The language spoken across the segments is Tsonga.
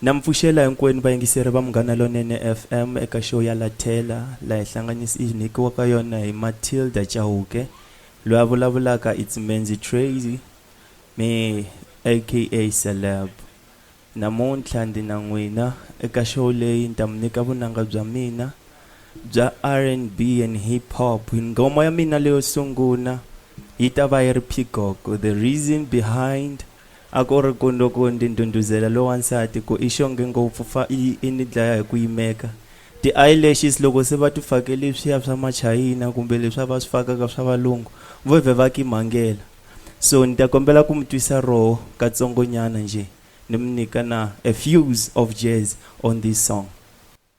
Na mi pfuxela hinkwenu vayingiseri va Munghana Lonene FM eka show ya Lathela la hi hlanganisi i nyikiwaka yona hi Matilda Chauke. Loyi a vulavulaka i Tsimenzi Tracy, me aka Celeb. Namuntlha ndi na n'wina eka show leyi ni ta mi nyika vunanga bya mina bya RNB and Hip Hop. Nghoma ya mina leyo sungula yi ta va yi ri Peacock, The Reason Behind. A ku ri ku loko ndzi ndhundhuzela loyi wa nsati ku i xonge ngopfu fa i i ni dlaya hi ku yimeka. Ti-eyelashes loko se va ti fake leswiya swa Machayina kumbe leswiya va swi fakaka swa valungu vo vhe va ki mhangela. So ni ta kombela ku mi twisa roho katsongonyana njhe ni mi nyika na a fuse of jazz on this song.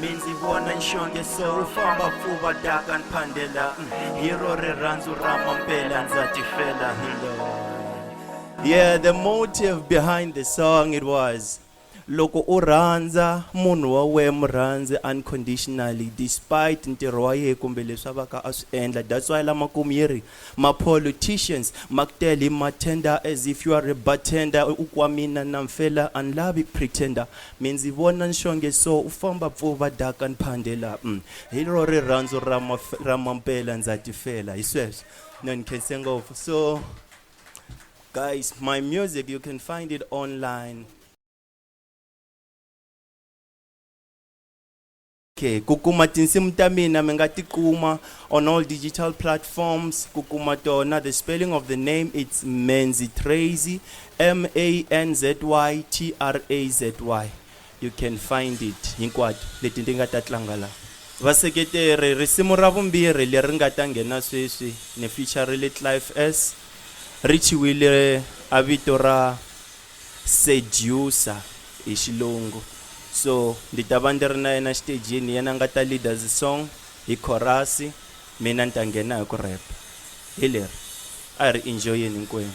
mi ndzi vona nxonge so u famba pfuva daka ni phandela mm, hi ro rirhandzu ra mampela ndza tifela hilo yeah the motive behind the song it was loko u rhandza munhu wa wena murhandzi unconditionally despite ntirho wa yena kumbe leswi a va ka a swi endla that's why lamakumu yi ri Ma politicians maku tele hi ma tender as if you are a bartender u kwa mina na mfela a ni lavi pretender mi ndzi vona nxonge so u famba pfu va daka ni phandela umm hi ro rirhandzu ra ma ra mampela ndza ti fela hi sweswo no ni khense ngopfu so guys my music you can find it online Okay, ku kuma tinsimu ta mina mi nga ti kuma on all digital platforms ku kuma tona the spelling of the name it's Manzy Trazy M A N Z Y T R A Z Y you can find it hinkwato leti ndi nga ta tlanga la vaseketeri risimu ra vumbirhi leri nga ta nghena sweswi ni featurile Clive S richiwile a vito ra seducer hi xilungu so ndi ta va ndi ri na yena xitejini yena a nga ta leader the song hi chorus mina ni ta nghena hi ku rap hi leri a hi ri enjoyeni hinkwenu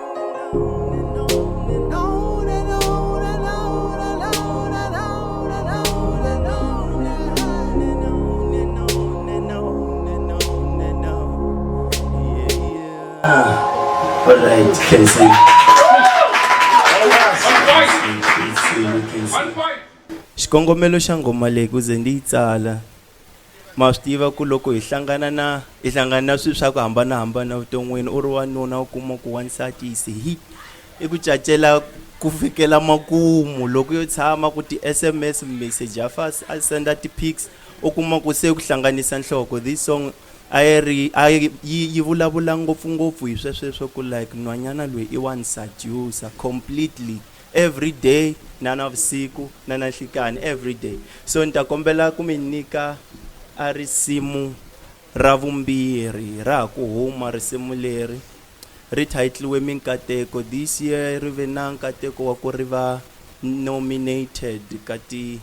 Ah, all right, can see. xikongomelo xa ngoma leyi ku ze ndi yi tsala ma swi tiva ku loko hi hlangana na hi hlangana na swilo swa ku hambanahambana evuton'wini u ri wanuna u kuma ku wansati yi se hi i ku cacela ku fikela makumu loko yo tshama ku ti-sms message ya fas a senda ti-pics u kuma ku se ku hlanganisa nhloko this song a yi ri a yi yi vulavula ngopfungopfu hi swesweswo ku like nhwanyana loyi i wansati usa completely everyday na navusiku na nanhlikani everyday so ni ta kombela ku mi nyika a risimu ra vumbirhi ra ha ku huma risimu leri ri thayitliwe minkateko this year ri ve na nkateko wa ku ri va nominated ka ti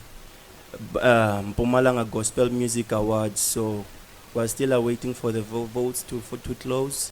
uh, Mpumalanga Gospel Music Awards so we're still awaiting for the votes to, for, to close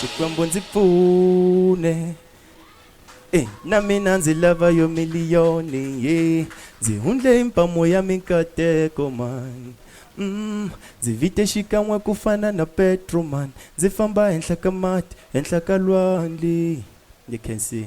Xikwembu ndzi pfune eh, na mina ndzi lava yo miliyoni ye ndzi hundle hi mpamo ya minkateko man mm, ndzi vite xikan'we ku fana na petro man ndzi famba henhla ka mati henhla ka lwandle you can see